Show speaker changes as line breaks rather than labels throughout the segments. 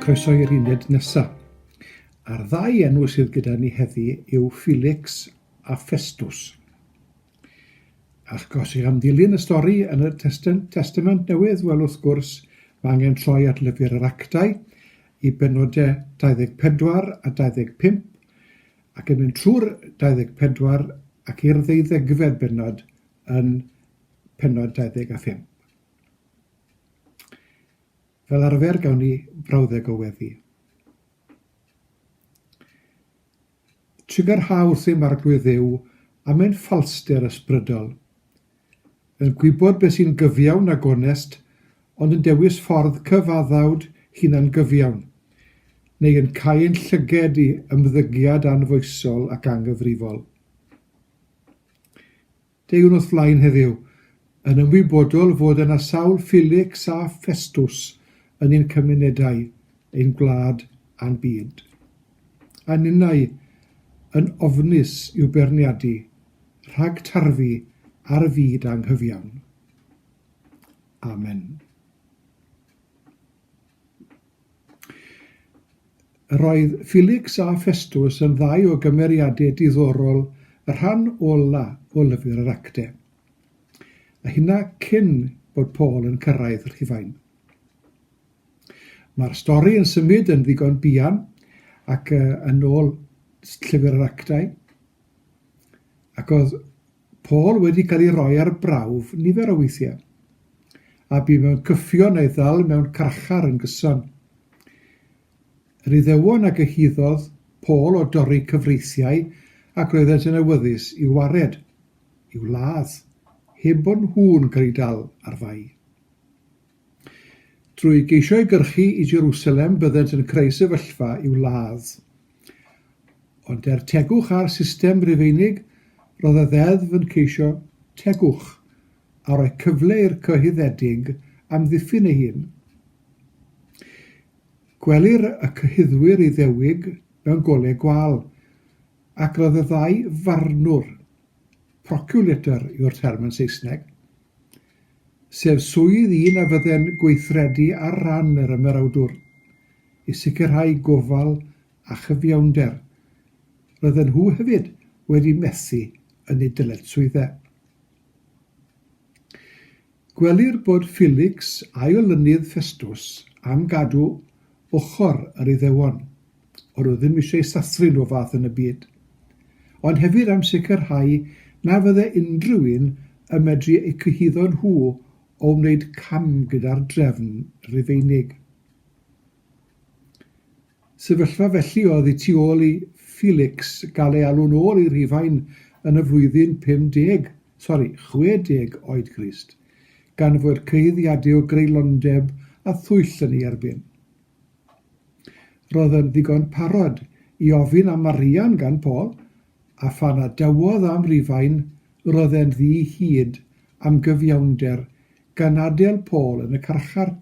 Croeso i'r uned nesaf. A'r ddau enw sydd gyda ni heddi yw Felix a Festus. Ac os ych am ddilyn y stori yn y Testament Newydd, wel wrth gwrs, mae angen troi at lyfr yr actau i benodau 24 a 25, ac yn mynd trwy'r 24 ac i'r ddeuddegfed bennod yn pennod 25. Fel arfer gawn ni brawddeg o weddi. Trigyrhau wrth ei marglwydd dduw am ein ffalster ysbrydol. Yn gwybod beth sy'n gyfiawn a gonest, ond yn dewis ffordd cyfaddawd hunangyfiawn, neu yn cau ein llyged i ymddygiad anfoesol ac anghyfrifol. Deuwn wrth flaen heddiw, yn ymwybodol fod yna sawl Felix a Festus yn ein cymunedau, ein gwlad a'n byd. a ninnau yn ofnus i'w beirniadu rhag tarfu ar y fyd anghyfiawn. Amen. Yr oedd Felix a Festus yn ddau o gymeriadau diddorol y rhan ola o lyfr yr acte, a hynna cyn bod Paul yn cyrraedd Rhufain. Mae'r stori yn symud yn ddigon buan ac yn ôl Llyfr yr Actau, ac oedd Paul wedi cael ei roi ar brawf nifer o weithiau, a bu mewn cyffion a'i ddal mewn carchar yn gyson. Yr Iddewon a gyhuddodd Paul o dorri cyfreithiau ac roeddent yn awyddus i'w wared, i'w ladd, heb bod nhw'n cael eu dal ar fai. Drwy geisio ei gyrchu i Jerusalem byddent yn creu sefyllfa i'w ladd. Ond er tegwch ar system Rufeinig, roedd y Ddeddf yn ceisio tegwch a rhoi cyfle i'r cyhuddedig amddiffyn ei hun. Gwelir y cyhuddwyr Iddewig mewn golau gwâl, ac roedd y ddau farnwr, proculator yw'r term yn Saesneg, sef swydd un a fydde'n gweithredu ar ran yr Ymerawdwr i sicrhau gofal a chyfiawnder, roedden nhw hefyd wedi methu yn eu dyletswyddau. Gwelir bod Felix a'i olynydd Ffestws am gadw ochr yr Iddewon. O'n nhw ddim eisiau sathru nhw fath yn y byd. Ond hefyd am sicrhau na fydde unrhyw un yn medru eu cyhuddo nhw o wneud cam gyda'r drefn Rufeinig. Sefyllfa felly oedd y tu ôl i Felix gael ei alw'n ôl i Rufain yn y flwyddyn 50, sori, 60 oed Grist, gan fod cyhuddiadau o greulondeb a thwyll yn ei erbyn. Roedd yn ddigon parod i ofyn am arian gan Paul, a phan a dywodd am Rufain, roedd e'n ddi hid am gyfiawnder gan adel Paul yn y carchar,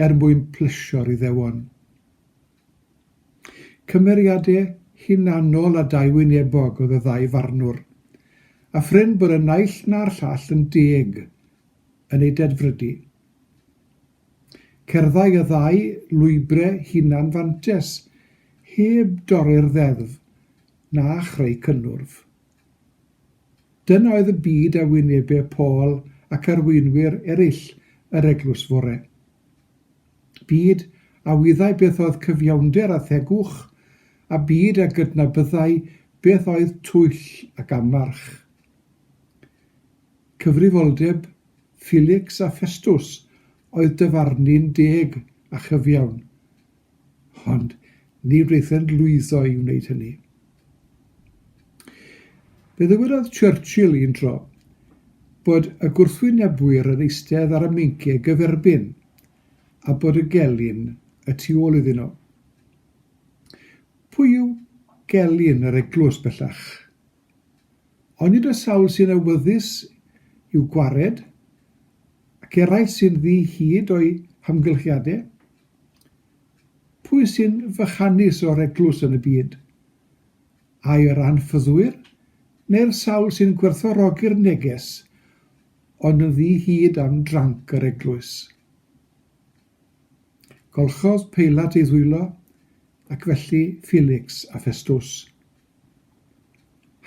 er mwyn plesio'r Iddewon. Cymeriade hunanol a dauwynebog oedd y ddau farnwr, a prin bod y naill na'r llall yn deg yn eu dedfrydu. Cerddai y ddau lwybre hunan-fantes heb dorri'r ddeddf na chreu cynnwrf. Dyna oedd y byd a wynebe Paul ac arweinwyr eraill yr eglwys fore. Byd a wyddai beth oedd cyfiawnder a thegwch, a byd a gydnabyddai beth oedd twyll ac anfarch. Cyfrifoldeb Filics a Ffestws oedd dyfarnu'n deg a chyfiawn, ond ni wnaethant lwyddo i wneud hynny. Fe ddywedodd Churchill un tro bod y gwrthwynebwyr yn eistedd ar y meinciau gyferbyn a bod y gelyn y tu ôl iddyn nhw. Pwy yw gelyn yr eglwys bellach? Onid y sawl sy'n awyddus i'w gwared, ac eraill sy'n ddu hyd o'i hamgylchiadau? Pwy sy'n fychanus o'r eglwys yn y byd? Ai yr anffyddwyr, neu'r sawl sy'n gwerthfawrogi'r neges, ond yn ddu hyd am dranc yr eglwys? Golchodd Peilat ei ddwylo, ac felly Felix a Ffestws.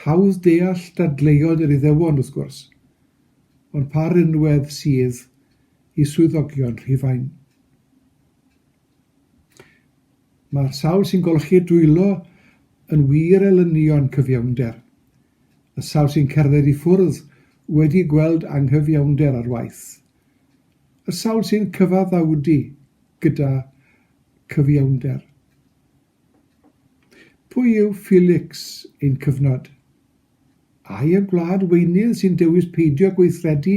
Hawdd deall dadleuon yr Iddewon, wrth gwrs, ond pa rinwedd sydd i swyddogion Rhufain? Mae'r sawl sy'n golchi dwylo yn wir elynion cyfiawnder, y sawl sy'n cerdded i ffwrdd wedi gweld anghyfiawnder ar waith, y sawl sy'n cyfaddawdu gyda chyfiawnder. Pwy yw Felix ein cyfnod? Ai y gwlad weinydd sy'n dewis peidio gweithredu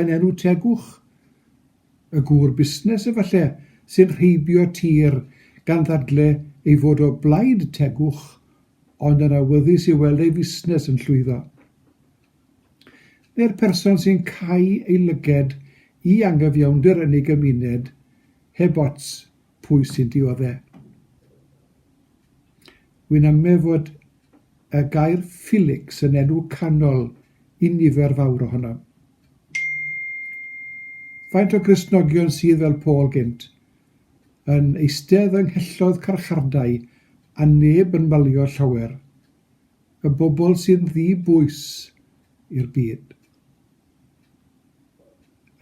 yn enw tegwch? Y gŵr busnes, efallai, sy'n rheibio tir gan ddadle ei fod o blaid tegwch ond yn awyddus i weld ei fusnes yn llwyddo? Neu'r person sy'n cau ei lyged i anghyfiawnder yn ei gymuned heb ots Pwy sy'n diodde'? Wy'n amlne fod y gair 'Felix' yn enw canol i nifer fawr ohonom. Faint o Gristnogion sydd, fel Paul gynt, yn eistedd yng nghelloedd carchardai a neb yn malio llawer, y bobl sy'n ddi bwys i'r byd?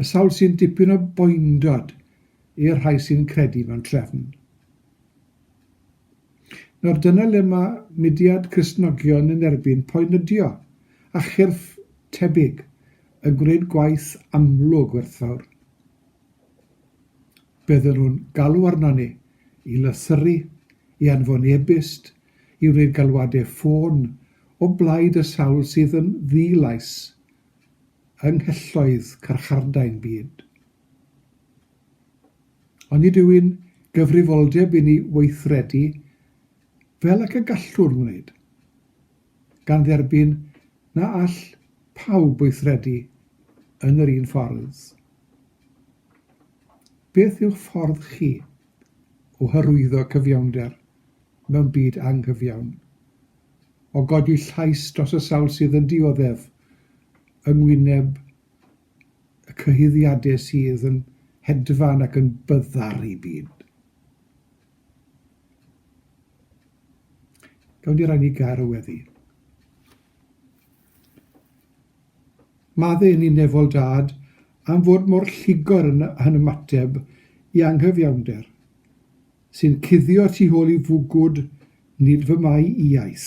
Y sawl sy'n dipyn o boendod i'r rhai sy'n credu mewn trefn. Nawr dyna le mae mudiad Cristnogion yn erbyn poenydio a chyrff tebyg yn gwneud gwaith amlwg werthfawr. Bydden nhw'n galw arnon ni i lythyru, i anfon e-byst, i wneud galwadau ffôn o blaid y sawl sydd yn ddi-lais yng nghelloedd carchardai'n byd. Ond nid yw'n gyfrifoldeb i ni weithredu fel ac y gallwn wneud, gan dderbyn na all pawb weithredu yn yr un ffordd. Beth yw'ch ffordd chi o hyrwyddo cyfiawnder mewn byd anghyfiawn, o godi llais dros y sawl sydd yn dioddef yng ngwyneb y cyhuddiadau sydd yn hedfan ac yn byddar i byd. Gawn ni rai ni gair o weddi. Madde yn un nefol dad am fod mor lligor yn, yn ymateb i anghyfiawnder, sy'n cuddio tu hôl i fwgwd nid fy mai iais.